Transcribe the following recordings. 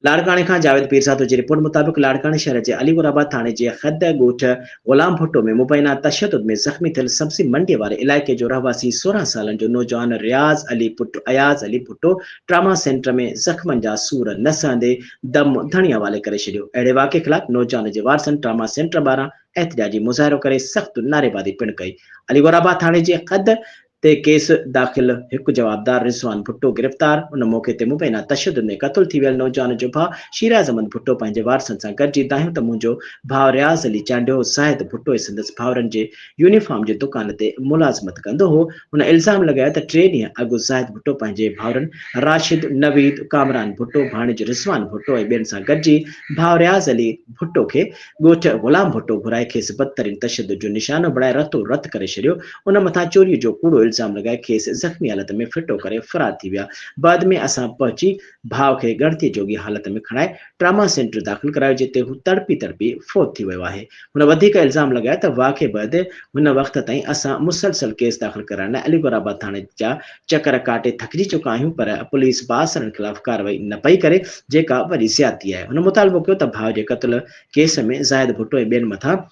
لاڙڪاڻي کان جاويد پيرزادو جي رپورٽ مطابق لاڙڪاڻي شهر جي علي گور آباد ٿاڻي جي خيدء ڳوٺ غلام ڀٽو ۾ مبينا تشدد ۾ زخمي ٿيل سبزي منڊي واري علائقي جو رهواسي سورهن سالن جو نوجوان رياض علي پٽ اياز علي ڀٽو ٽراما سينٽر ۾ زخمن جا سور نه سهندي دم ڌڻي حوالي ڪري ڇڏيو اهڙي واقعي خلاف نوجوان جي وارثن ٽراما سينٽر ٻاهران احتجاجي مظاهرو ڪري سخت نعريبازي پڻ ڪئي علي گور آباد ٿاڻي جي خيدء تي ڪيس داخل، هڪ جوابدار رضوان ڀٽو گرفتار، ان موقعي تي مبينا تشدد ۾ قتل ٿي ويل نوجوان جو ڀاء شيراز احمد ڀٽو پنهنجي وارثن سان گڏجي دانهيو ته منهنجو ڀاء رياض علي چانڊيو زاهد ڀٽو ۽ سندس ڀائرن جي يونيفارم جي دڪان تي ملازمت ڪندو هو، هن الزام لڳايو ته ٽي ڏينهن اڳ زاهد ڀٽو پنهنجي ڀائرن راشد، نويد، ڪامران ڀٽو، ڀاڻيج رضوان ڀٽو ۽ ٻين سان گڏجي ڀاء رياض علي ڀٽو کي ڳوٺ غلام ڀٽو گهرائي کيس بدترين تشدد جو نشانو بڻائي رتو رت ڪري ڇڏيو، ان مٿان چوريء جو ڪوڙو الزام لڳائي کيس زخمي حالت ۾ ڦٽو ڪري فرار ٿي ويا، بعد ۾ اسان پهچي ڀاء کي ڳڻتيء جوڳي حالت ۾ کڻائي ٽراما سينٽر داخل ڪرايو جتي هو تڙپي تڙپي فوت ٿي ويو آهي، هن وڌيڪ الزام لڳايو ته واقعي بعد هن وقت تائين اسان مسلسل ڪيس داخل ڪرائڻ لاء عليگوهرآباد ٿاڻي جا چڪر ڪاٽي ٿڪجي چڪا آهيون پر پوليس بااثرن خلاف ڪارروائي نه پئي ڪري جيڪا وڏي زيادتي آهي هن مطالبو ڪيو ته ڀاء جي قتل ڪيس ۾ زاهد ڀٽو ۽ ٻين مٿان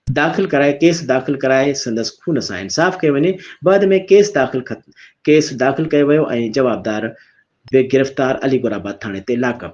داخل ڪرائي ڪيس داخل ڪرائي سندس خون سان انصاف ڪيو وڃي بعد ۾ ڪيس داخل ڪيس داخل ڪيو ويو ۽ جوابدار به گرفتار علي گورآباد ٿاڻي تي لاڪ اپ.